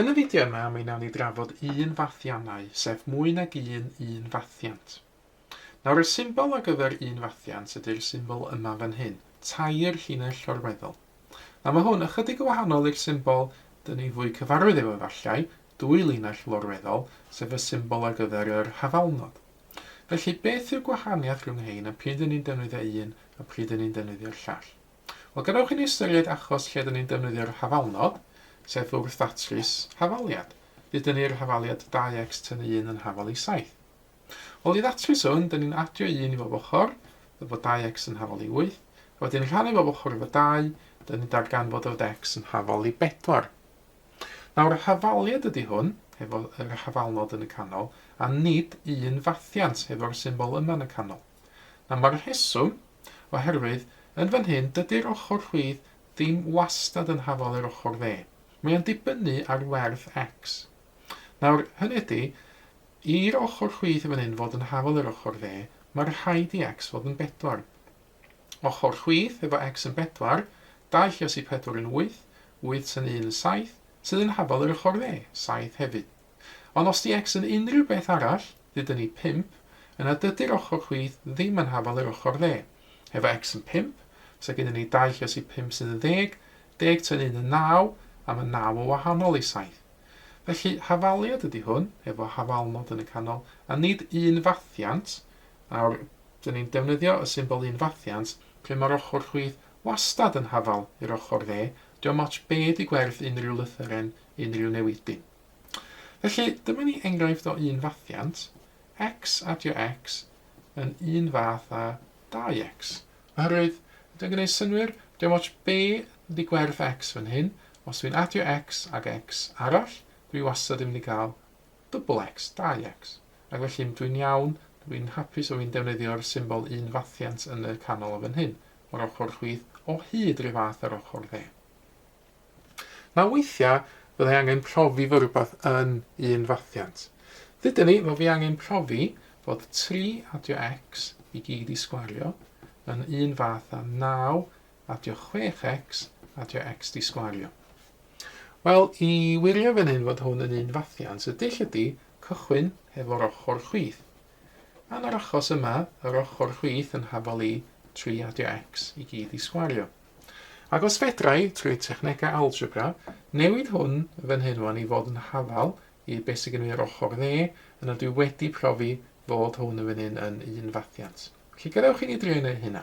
Yn y fideo yma mi wnawn ni drafod un fathiannau, sef mwy nag un un fathiant. Nawr y symbol ar gyfer un fathiant ydy'r symbol yma fan hyn, tair llinell llorweddol. Nawr mae hwn ychydig yn wahanol i'r symbol dyn ni fwy cyfarwydd efo efallai, dwy linell lorweddol, sef y symbol ar gyfer yr hafalnod. Felly, beth yw'r gwahaniaeth rhwng rhein a pryd ry'n ni'n defnyddio un a pryd ry'n ni'n defnyddio'r llall? Wel, gadewch i ni ystyried achos lle rydyn ni'n defnyddio'r hafalnod, sef wrth ddatrys hafaliad. Bydd dynnu i'r hafaliad 2x tynnu 1 yn hafal i 7. Wel, i ddatrys hwn, dyn ni'n adio 1 i bob ochr, efo 2x yn hafal i 8, a wedyn rhannu bob ochr efo 2, dyn ni'n darganfod y fod x yn hafal i 4. Nawr, hafaliad ydy hwn, hefo yr hafalnod yn y canol, a nid un fathiant, hefo'r symbol yma yn y canol. Nawr, mae'r rheswm, oherwydd, yn fan hyn, dydy'r ochr rhwydd ddim wastad yn hafal yr ochr dde. Mae o'n dibynnu ar werth X. Nawr, hynny ydy, i'r ochr rhwydd yn fan hyn fod yn hafal yr ochr dde, mae rhaid i X fod yn bedwar. Ochr chwith efo X yn bedwar, dau lles i pedwar yn wyth, wyth sy'n un yn saith, sydd yn hafal yr ochr dde, saith hefyd. Ond os 'di X yn unrhyw beth arall, dydyn ni pump, yna dydi'r ochr chwith ddim yn hafal yr ochr dde. Efo X yn pump, sa gennyn ni dau lles i pump sydd yn ddeg, deg tua'n un yn naw, a ma naw o wahanol i saith. Felly, hafaliad ydi hwn, efo hafalnod yn y canol, a nid un fathiant, nawr, Dyn ni'n defnyddio y symbol un fathiant lle ma'r ochr chwith wastad yn hafal i'r ochr dde, dio'm otsh be' di gwerth unrhyw lythyren, unrhyw newidyn. Felly, dyma ni enghraifft o un fathiant, X adio X yn un fath â 2X. Oherwydd, ydi o'n gneud synnwyr? Dio'm otsh be' di gwerth X fan hyn, os dwi'n adio X ag X arall, dwi wastad yn mynd i ga'l Double X, dau X. Ac felly, m, dwi'n iawn, dw i'n hapus o fi'n defnyddio'r symbol un fathiant yn y canol o fan hyn, o'r ochr chwith, o hyd ryw fath ar ochr dde. Nawr weithiau, fydda i angen profi fod rhywbeth yn un fathiant. Dydyn ni, fo fi angen profi fod 3 adio x i gyd i sgwario yn un fath â 9 adio 6x, adio x di sgwario. Wel, i wirio fan hyn fod hwn yn un fathiant, y dull ydy cychwyn hefo'r ochr chwith. Yn yr achos yma, yr ochr chwith yn hafol i 3 adio x i gyd i sgwario. Ac os fedrai, trwy technegau algebra, newid hwn fan hyn wan i fod yn hafal i beth sy'n gynnu yr ochr dde, yna dwi wedi profi fod hwn yn fan hyn yn un fathiant. Felly gadewch i ni drio wneud hynna.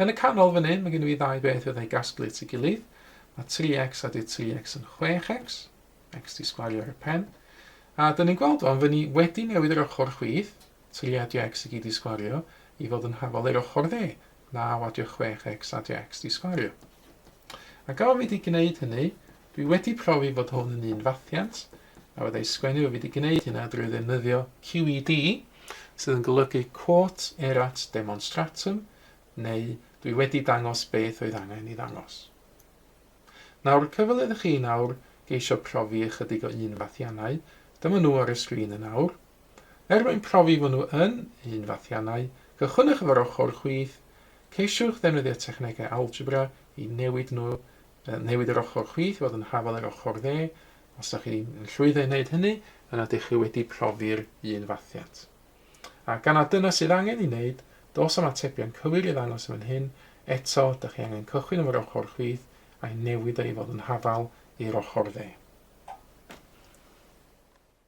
Yn y canol fan hyn, mae gen i fi ddau beth fyddai gasglu at ei gilydd. Mae 3x a di 3x yn 6x. X di sgwario ar y pen. A dyn ni'n gweld o'n fy ni wedi newid yr ochr chwith, 3 a di x i gyd di sgwario, i fod yn hafol i'r ochr dde, 9 a di 6x a di x di sgwario. A gawr fi di gwneud hynny, dwi wedi profi fod hwn yn un fathiant, A wedi'i ysgrifennu, rwyf wedi gwneud hynna drwy ddefnyddio QED, sydd yn golygu Quot Erat Demonstratum, neu Dwi wedi dangos beth oedd angen ei ddangos. Nawr, y cyfle iddo chi nawr geisio profi ychydig o un fathiannau, dyma nhw ar y sgrin yn awr. Er mwyn profi fod nhw yn un fathiannau, cychwynnwch efo'r ochr chwith, ceisiwch ddefnyddio technegau algebra i newid nhw, newid yr ochr chwith i fod yn hafal yr ochr dde, Os ydych chi'n llwyddo i wneud hynny, yna ydych chi wedi profi'r un fathiant. A gan na dyna sydd angen i wneud, dos am atebion cywir i ddangos yn fan hyn, eto, ydych chi angen cychwyn efo'r ochr chwith a'i newid o i fod yn hafal i'r ochr dde.